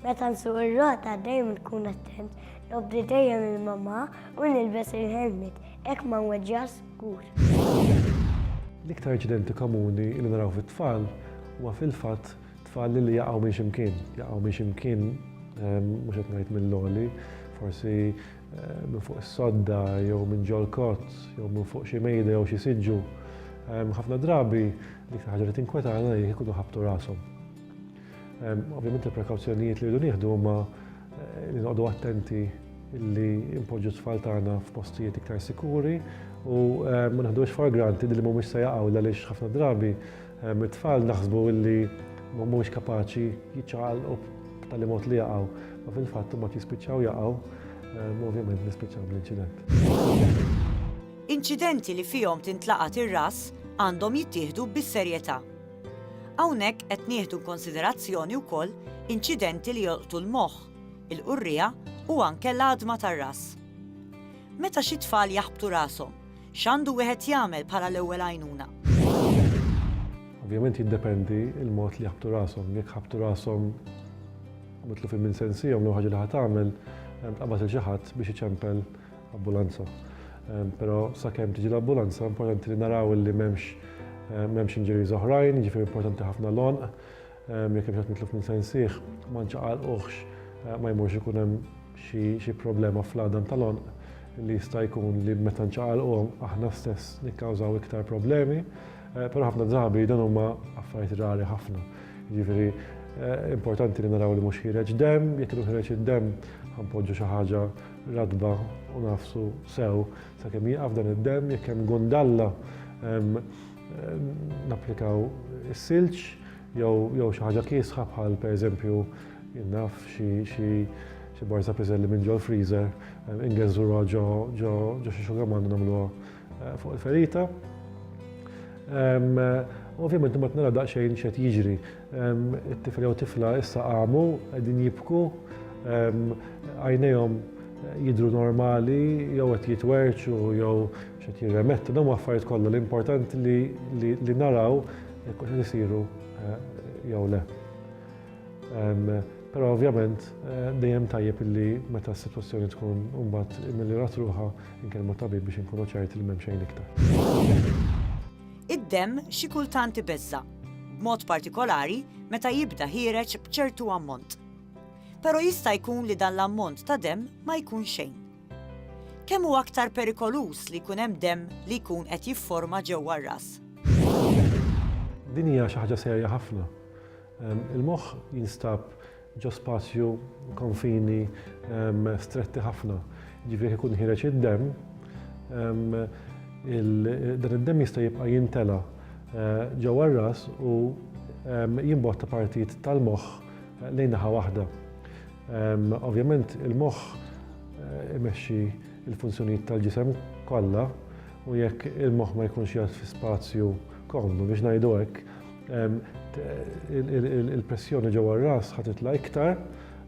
Meta nsuq ir-rota dejjem nkun attent, nobdi dejjem il-mamma u nilbes il-helmet, hekk ma nweġġax żgur. L-iktar aċċidenti komuni li naraw fit-tfal huwa fil-fatt tfal li jaqgħu minn x'imkien, jaqgħu minn x'imkien ehm, mhux qed ngħid mill-għoli, forsi ehm, minn fuq is-sodda jew minn ġol kott jew minn fuq xi mejda jew xi siġġu. Ehm, ħafna drabi l-iktar ħaġa li tinkwetana jekk ikunu ħabtu rashom. Ovvjament il-prekawzjonijiet li rridu nieħdu huma eh, li noqogħdu attenti li impoġġu tfal tagħna f'postijiet iktar sikuri u eh, ma naħdux for granted li mhumiex se jaqgħu għaliex ħafna drabi eh, mit-tfal naħsbu li mhumiex kapaċi jiċċaqalqu b'tali mod li jaqgħu, ma fil-fatt ma jispiċċaw jaqgħu, ovvjament nispiċċaw bl-inċident. Inċidenti li fihom tintlaqat ir-ras għandhom jittieħdu bis-serjetà. Hawnhekk qed nieħdu inkonsiderazzjoni wkoll inċidenti li jolqtu l-moħħ, il-qurriegħa u anke l-għadma tar-ras. Meta xi tfal jaħbtu rashom, x'għandu wieħed jagħmel bħala l-ewwel għajnuna? Ovvjament jiddependi l-mod li jaħbtu rashom. Jekk ħabtu rashom mitlufin minn sensihom l ħaġa li ħa tagħmel tqabbad il xi ħadd biex iċempel Ambulanza. Però sakemm tiġi l-ambulanza importanti li naraw li m'hemmx m'hemmx injuries oħrajn, jiġifieri importanti ħafna l-għonq. Jekk hemm xi mitluf minn sensih, ma nċaqalquhx ma jmurx ikun hemm xi problema fl-għadam tal-għonq li jista' jkun li meta nċaqalquhom aħna stess nikkawżaw iktar problemi. Però ħafna drabi dan huma affarijiet rari ħafna. Jiġifieri importanti li naraw li mhux ħiereġ demm, jekk ikun ħiereġ id-demm ħanpoġġu xi ħaġa Ratba u nafsu sew sakemm jieqaf dan id-demm jekk hemm gundalla napplikaw is-silġ jew xi ħaġa kiesħa bħal pereżempju naf xi barza piżelli minn ġol-freezer ingeżżuha ġo xi xugaman u nagħmluha Eh, fuq il-ferita. Ovvijament ma tnara daqsxejn xed jiġri. It-tifel jew tifla issa qamu qegħdin jibku, għajnejhom eh, jidru normali, jew qed jitwerċu, jew xed jirremettu, dawn affarijiet kollha l-importanti li naraw jekk qed isiru eh, jew le. Però ovvjament dejjem tajjeb illi meta s-sitwazzjoni tkun mbagħad immiljrat ruħha Inkellem mat-tabib biex inkunu ċerti li m'hemm xejn iktar. Id-demm xi kultant ibeżża', b'mod partikolari meta jibda ħiereġ b'ċertu ammont. Però jista' jkun li dan l-ammont ta' demm ma jkun xejn. Kemm hu aktar perikoluż li jkun hemm demm li jkun qed jifforma ġewwa r-ras? Din hija xi ħaġa serja ħafna. Il-moħħ jinstab Ġo spazju, konfini, stretti ħafna, ġifieri jekk ikun ħiereġ id-demm, dan id-demm jista' jibqa' jintela' ġewwa r-ras u jimbotta partijiet tal-moħħ lejn naħa waħda. Ovvjament il-moħħ imexxi l-funzjonijiet tal-ġisem kollha u jekk il-moħħ ma jkunx jgħodd fi spazju komdu, biex ngħidu hekk, il-pressjoni ġewwa r-ras ħa titla' iktar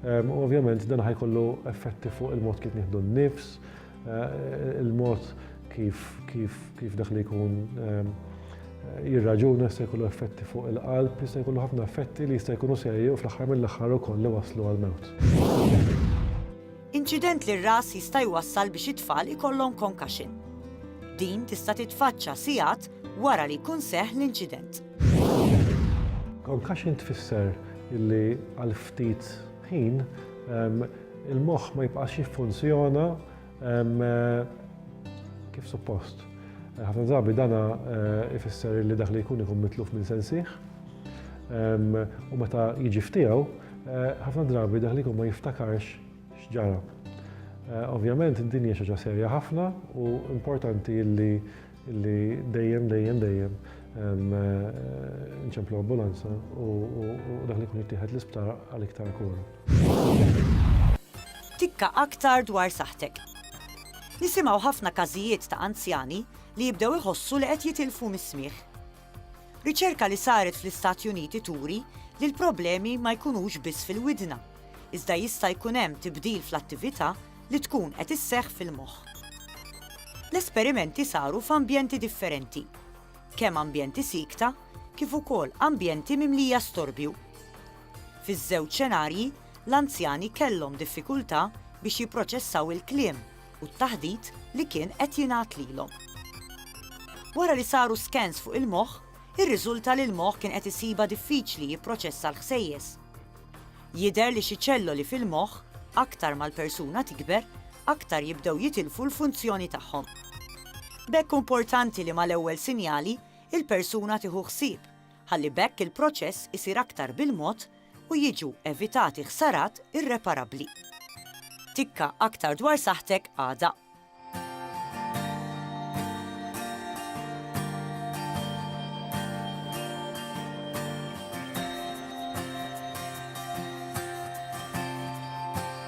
u ovvjament dan ħajkollu effetti fuq il-mod kif nieħdu n-nifs, eh, il-mod kif kif kif dak li jkun eh, jirraġuna se jkollu effetti fuq il-qalb, jista' jkollu ħafna effetti li jista' jkunu serji u fl-aħħar mill-aħħar ukoll li waslu għal-mewt. Inċident lir-ras jista' jwassal biex it-tfal ikollhom concussion. Din tista' titfaċċa sigħat wara li jkun seħħ l-inċident. Concussion tfisser li għal ftit ħin il-moħħ ma jibqax jiffunzjona kif suppost. Ħafna drabi dan ifisser li dak li jkun ikun mitluf minn sensih u meta jiġi f'tiegħu Ħafna drabi dak li jkun ma jiftakarx x'ġara. Ovvjament din hija xi ħaġa serja ħafna u importanti li li dejjem dejjem dejjem nċemplu ambulanza u dak li jkun jittieħed l-isptar għal iktar kura. Tikka aktar dwar saħħtek. Nisimgħu ħafna każijiet ta' anzjani li jibdew iħossu li qed jitilfu mis-smigħ. Riċerka li saret fl-Istati Uniti turi li l-problemi ma jkunux biss fil-widna, iżda jista' jkun hemm tibdil fl-attività li tkun qed isseħħ fil-moħħ. L-esperimenti saru f'ambjenti differenti, kemm ambjenti siekta kif ukoll ambjenti mimlija storbju. Fiż-żewġ xenarji, l-anzjani kellhom diffikultà biex jipproċessaw il-kliem u t-taħdit li kien qed jingħad lilhom. Wara li saru skans fuq il-moħħ, irriżulta li l-moħħ kien qed isibha diffiċli jipproċessa l-ħsejjes. Jidher li xi ċelloli fil-moħħ, aktar mal-persuna tikber, aktar jibdew jitilfu l-funzjoni tagħhom. B'hekk importanti li mal-ewwel sinjali il-persuna tieħu ħsieb, ħalli b'hekk il-proċess isir aktar bil-mod u jiġu evitati ħsarat irreparabbli. Tikka aktar dwar saħħtek għada.